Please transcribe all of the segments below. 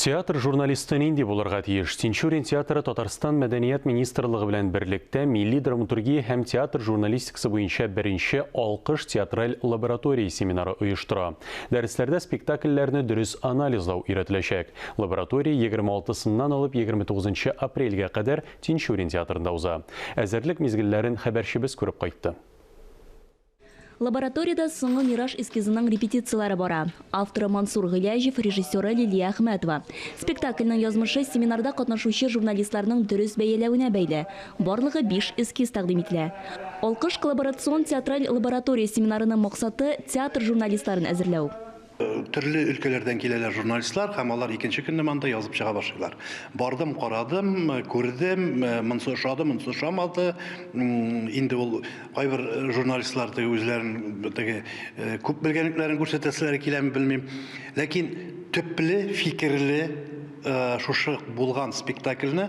Театр журналисты нинди булырга тиеш? Тинчурин театры Татарстан мәдәният министрлыгы белән берлектә милли драматургия һәм театр журналистикасы буенча беренче Алкыш театраль лаборатория семинары оештыра. Дәресләрдә спектакльләрне дөрес анализлау өйрәтеләчәк. Лаборатория 26 сыннан алып 29 нчы апрельгә кадәр Тинчурин театрында уза. Әзерлек мизгелләрен хәбәрчебез күреп кайтты. Лабораториядә Соңгы мираж эскизының репетицияләре бара. Авторы Мансур Гыйләҗев, режиссеры Лилия Әхмәтова. Спектакльнең язмышы семинарда катнашучы журналистларның дөрес бәяләвенә бәйле. Барлыгы биш эскиз тәкъдим ителә. Алкыш коллаборацион театраль лаборатория семинарының максаты, театр журналистларын әзерләү. Төрле өлкәләрдән киләләр журналистлар һәм алар икенче көнне монда язып чыга башлыйлар. Бардым, карадым, күрдем, монысы ошады, монысы ошамады. Инде ул кайбер журналистлар теге үзләрен теге күп белгәнлекләрен күрсәтәселәре киләме белмим. Ләкин төпле, фикерле шушы булган спектакльне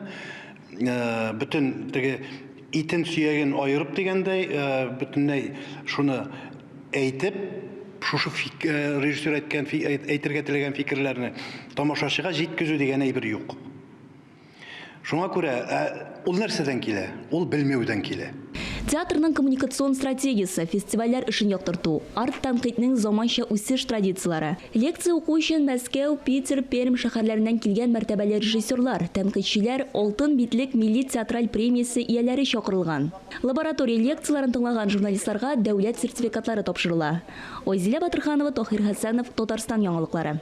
бөтен теге итен сөяген аерып дигәндәй, бөтенләй шуны әйтеп, шушы фик, режиссер әйткән әйтергә теләгән фикерләрне тамашачыга җиткезү дигән әйбер юк. Шуңа күрә ул нәрсәдән килә? Ул белмәүдән килә. Театрның коммуникацион стратегиясе, фестивальләр эшен яктырту, арт-тәнкыйтьнең заманча үсеш традицияләре. Лекция уку өчен Мәскәү, Питер, Пермь шәһәрләреннән килгән мәртәбәле режиссерлар, тәнкыйтьчеләр, Алтын битлек милли театраль премиясе ияләре чакырылган. Лаборатория лекцияләрен тыңлаган журналистларга дәүләт сертификатлары тапшырыла. Айзилә Батырханова, Таһир Хәсәнов, Татарстан яңалыклары.